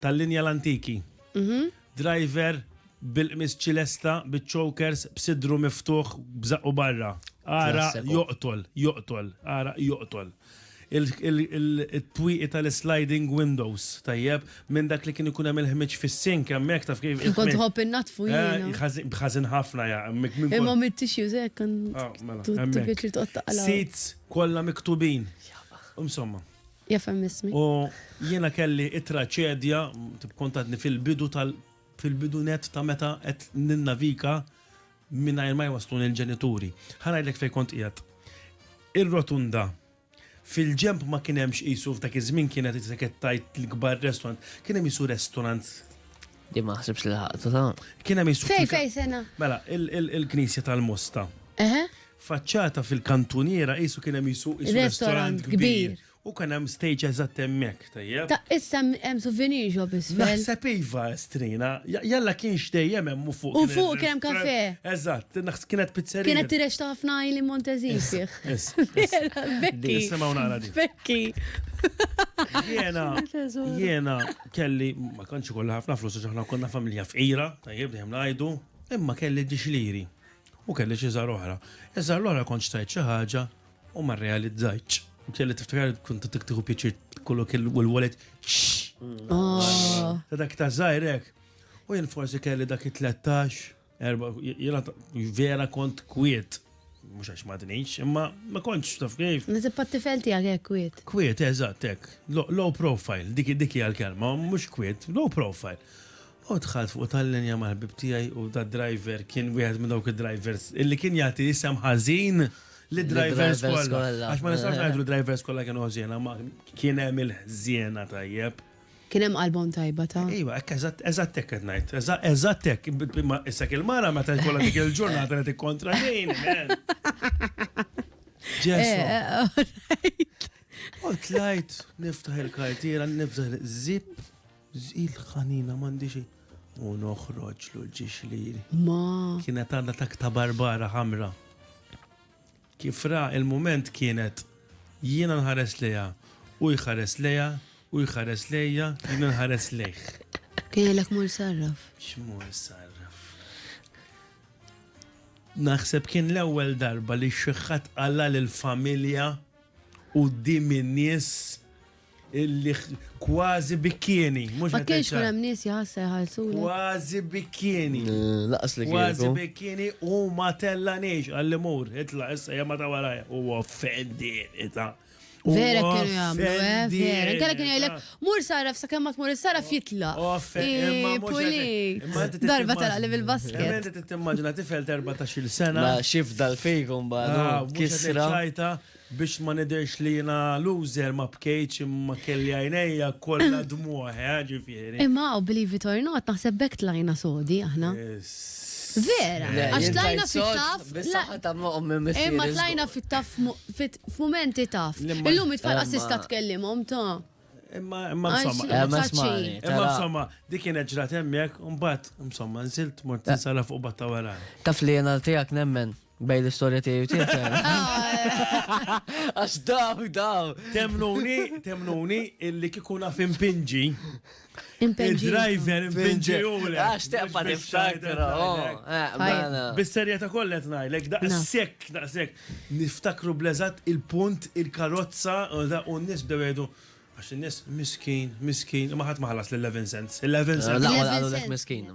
tal-linja l-antiki. Mhm. Driver bil-qmis ċilesta, bil-chokers, b'sidru miftuħ, b'zaqqu barra. Ara joqtol, joqtol, ara joqtol. Il-twiqi tal-sliding windows, tajjeb, minn dak li kien ikun hemm il-ħmiġ fis-sink, hemmhekk taf kif. Kont ħobb innatfu eh, jien. Bħażin ħafna ja. Imma mit-tissues hekk kan. Ah, mela, Seats kollha miktubin. Insomma. Jafem ismi. U jiena kelli it-traċedja, tikkontatni fil-bidu tal fil-bidu net ta' meta qed ninnavika mingħajr ma jwaslun il-ġenituri. Ħanajlek fejn kont qiegħed. Ir-rotunda fil-ġemp ma kien hemmx qisu f'dak iż-żmien kienet qed tajt l-kbar restaurant, kien hemm qisu restaurant Di ma ħsibx li ħaqtu ta'. Kien hemm is Fej, fej, sena. Mela, il-Knisja tal-Mosta. Eħe. Faċċata fil-kantuniera qisu kien hemm jisu restaurant kbir. U kien hemm stage eżatt hemmhekk, tajjeb. Ta' issa hemm souvenir shop isfel. Naħseb iva strina, jalla kien xdejjem hemm u fuq. U fuq kien hemm kafe. Eżatt, kienet pizzerija. Kienet tirex ta' ħafna li Montezin fih. Bekki. Bekki. Jena, jena, Kelli, ma kanċi ikolli ħafna flus għax aħna konna familja fqira, tajjeb dejjem ngħidu, imma kelli dixliri u kelli xi żar oħra. Iżar l-oħra kont xtajt xi ħaġa u ma realizzajtx. Kelli tiftakar kont tiktiħu pjaċir kollu kellu u l-wallet. Ta' dak ta' żgħirek. U jien forsi kelli dak it-13. Erba, jena vera kont kwiet, mux għax madnix, imma ma kontx taf kif. Nizib pat-tifel tijak għek kwiet. Kwiet, eżat, ek. Low profile, dik dik għal-kelma, mux kwiet, low profile. U tħalt fuq tal-linja mal-ħbib tijaj u da driver kien wieħed minn dawk id-drivers illi kien jagħti isem ħażin li drivers kollha. Għax ma nistax ngħidu drivers kollha kienu ħżiena, ma kien hemm il-ħżiena tajjeb. Kien hemm qalbhom tajba ta'. Iva, hekk eżatt, eżatt hekk qed ngħid. Eżatt, eżatt hekk. Imma issa kien mara meta jkollha dik il-ġurnata li tikkontra lejn. Ġesu. Eh, eh, alright. U tlajt, niftaħ il-kartiera, niftaħ zip, il-ħanina mandi xejn. U noħroġ l-ġiġ li. Ma. Kienet għandha tak ta' barbara ħamra. Kif ra l-mument kienet, jiena nħares lejha, hu jħares lejha, hu jħares lejja, jiena nħares lejh. Jgħidlek mur sarraf. X'mur sarraf. Naħseb kien l-ewwel darba li xi ħadd qala lill-familja quddiem in-nies Illi kważi bikkieni, mhux Ma kienx kien hemm nies jħassa jħallsu. Kważi bikkieni. Laqas li kien. Kważi bikkieni u ma tella nix għalli mur, itla issa jemma ta' warajja. U offendi, ita. Vera kienu jagħmlu, eh, vera. Kalla kien jgħidlek, mur saraf sa kemm ma tmur is-saraf jitla. Puli. Darba tara li bil-basket. Inti tittimmaġina tifel 14-il sena. Ma xif dal-fejkum bħal. Ah, kisra. Biex ma nidhirx li jiena loser ma bkejtx imma kelli għajnejja kollha dmugħ eh ġifieri. Imma hawn believe it or not naħseb b'hekk tlajna sodi aħna. Vera! Le, Għax jien tlajna tlajt sod fit-tough bis la saħħa ta' ommi u missieri Imma tlajna żgur. fit-tough mo fit f'mumenti tough. Li ma Illum it-tfal qass tista' Imma tkellimhom ta'. Imma imma Għax insomma imma Imma insomma ċaċi. smani, imma tara. insomma di kienet ġrat hemmhekk u mbagħad insomma nżilt mort Eh. insara fuq batta wara. Taf li jiena tiegħek nemmen Bej l-istorja tiegħi tiegħek. Għax daw, daw. Temnuni, temnuni, illi kikuna fin pinġi. Il-driver impinġi u l Għax teqpa niftakra. Oh, eh, mela. Bis-serja ta' kollet najlek, daqsek, daqsek. Niftakru blezat il-punt, il-karozza, u da' u nis bdewedu. Għax nis miskin, miskin, maħat maħlas l-11 cents. 11 cents. L-għal għalulek miskin.